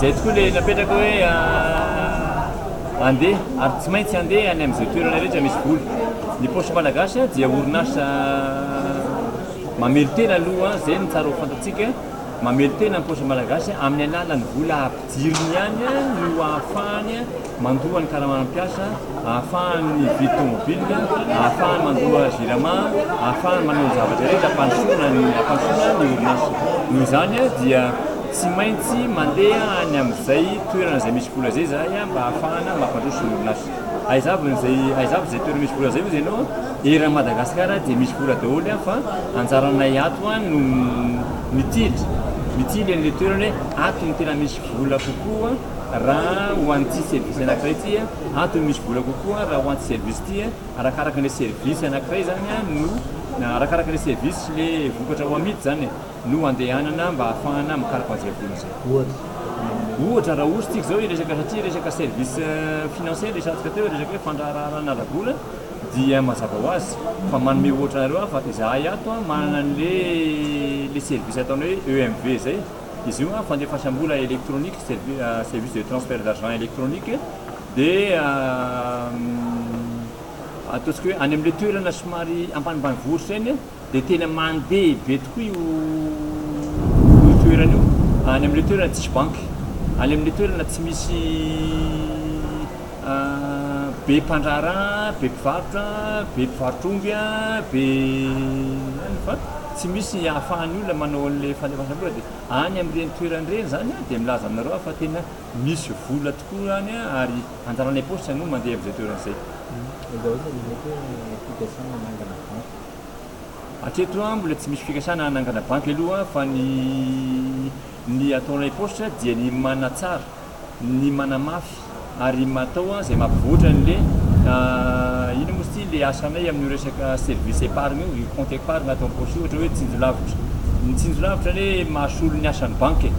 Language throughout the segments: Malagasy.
Izay tokoa ilay napetraka hoe andeha ary tsy maintsy andeha any amin'izay toerana rehetra misy vola. Ny paosy malagasy dia orinasa mamelotena aloha izay ny tsara ho fantatsika mamelotena ny paosy malagasy amin'ny alalan'ny vola ampidiriny ihany no ahafahany Mandoa ny karaman'ny mpiasa, ahafahany mividy tomobilina, ahafahany mandoa Jirama, ahafahany manao ny zavatra rehetra hampandrosoana ny hampandrosoana ny orinasa. Noho izany dia tsy maintsy mandeha any amin'izay toerana izay misy vola izay izahay mba ahafahana mampandroso ny orinasa. Aiza avy izay aiza avy izay toerana misy vola izay hoy izy ianao? Eran'i Madagasikara dia misy vola daholo fa anjaranay ato no mitily mitily an'ilay toerana hoe ato no tena misy vola kokoa. raha ho an'ity service anankiray ity antony misy vola kokoa raha ho an'ity service ity arakaraka ilay service anankiray zany no arakaraka ilay service sy ilay vokatra ho amidy zany e no andehanana mba hahafahana mikaroka an'izay vola izay ohatra ohatra raha ohatra tsika izao hiresaka satria resaka service euh, financier resatsika teo resaka hoe fandraharahana ara-bola dia mazava ho azy fa manome ohatra anareo aho fa izahay ato manana an'le le service ataonao hoe EMV zay Izy io an, fandefasam-bola elektronika, service de transfert d'argent électronique, dia ataontsika hoe any amin'ilay toerana somary ampanimbanivoritr'izay ny dia tena mandeha be tokoa io io toerana io, any amin'ilay toerana tsisy banky, any amin'ilay toerana tsy misy be mpandraharaha, be mpivarotra, be mpivarotr'omby an, be any fa. Tsy misy ahafahan'ny olona manao an'ilay fandefasam-bola dia any amin'ireny toerana ireny izany aho dia milaza aminareo aho fa tena misy vola tokoa any ary anjaran'ilay paositra no mandeha amin'izay toerana izay. Hatreto aho mbola tsy misy fikasana hanangana banky aloha fa ny ny ataon'ilay paositra dia ny manatsara. ny manamafy ary matao izay mampivoatra anle inona moa izy ity le asanay amin'io resaka service épargne io, io compte épargne ato am-paosy io ohatra hoe tsinjo lavitra, ny tsinjo lavitra anie mahasolo ny asan'ny banky e!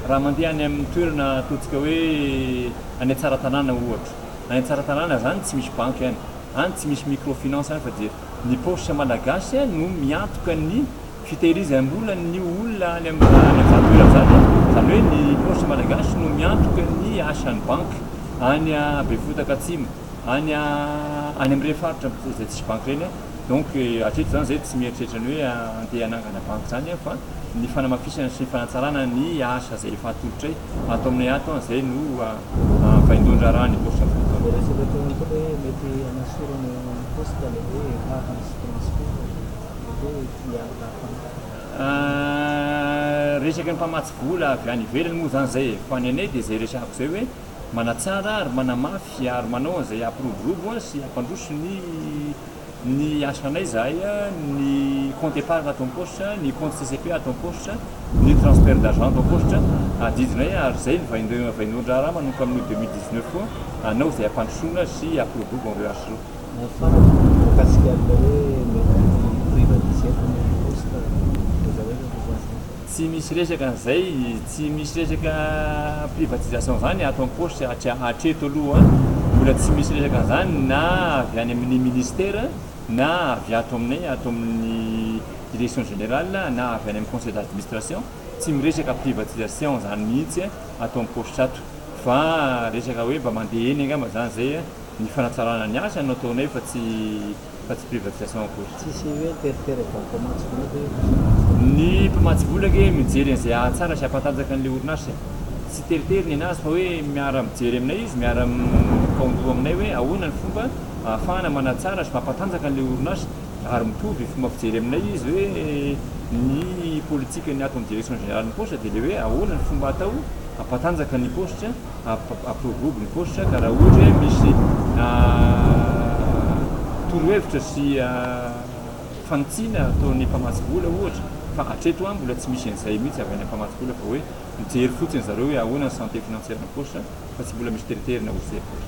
raha mandeha any amin'ny toerana ataontsika hoe any Tsaratanàna ohatra, any Tsaratanàna zany tsy misy banky any, any tsy misy microfinance any fa dia ny paosy malagasy no miantoka ny Fitehirizam-bola ny olona any amin'ny tanàna Januera izany, izany hoe ny paosy malagasy no miantoka ny asan'ny banky any Befotaka Atsimo, any any amin'ireny faritra izay tsisy banky ireny. Donc hatreto izany izahay tsy mieritreritra ny hoe andeha hanangana banky izany fa ny fanamafisana sy ny fanatsarana ny asa izay efa atolotray ato aminay ato izay no vaindohan-draharaha ny paosy Befotaka. Ilay resaka ataonao koa hoe mety hanasorana ny poste ilay hoe vava sy transport. Resaka ny mpamatsy vola avy any ivelany moa izany izay e! Fa ny anay dia izay resahako izay hoe manatsara ary manamafy ary manao an'izay hampiroborobo sy hampandroso ny ny asanay izahay, ny compte épargne ato am-paositra, ny compte CCP ato am-paositra, ny transfert d'argent ato am-paositra adidinay ary izay no vaindohan-draharaha manomboka amin'ny deux mille dix-neuf koa hanao izay hampandrosoana sy hampiroborobo an'ireo asa ireo. Nahafanina ny mikasika an'ilay hoe mety hi-privatiser koa ny poste dia zao indray no voisin fa. Tsy misy resaka an'izay, tsy misy resaka privatisation zany ato am poste hatria hatreto aloha mbola tsy misy resaka an'izany na avy any amin'ny ministère na avy ato aminay ato amin'ny direction générale na avy any amin'ny conseil d'administration tsy miresaka privatisation zany mihitsy ato am poste ato fa resaka hoe mba mandeha eny angamba zany zay Ny fanatsarana ny asa no ataonay fa tsy fa tsy privatisation akory. Tsisy hoe teritery avy amin'ny mpamatsy vola ve io sa aza hoe. Ny mpamatsy vola ange mijery an'izay ahatsara sy ahampatanjaka an'ilay orinasa e. Tsy teritery ny an'azy fa hoe miara mijery aminay izy, miara mikaondoha aminay hoe ahoana ny fomba ahafahana manatsara sy mampatanjaka an'ilay orinasa ary mitovy fomba fijery aminay izy hoe ny politikan'ny ato amin'ny direction générale ny poste dia ilay hoe ahoana ny fomba atao hampatanjaka ny poste Approvob ny post ka raha ohatra hoe misy torohevitra sy fanitsiana ataon'ny mpamatsy vola ohatra fa hatreto an mbola tsy misy an'izay mihitsy avy any amin'ny mpamatsy vola fa hoe mijery fotsiny zareo hoe ahoana ny santé financière ny post fa tsy mbola misy teriterina ozy zay post.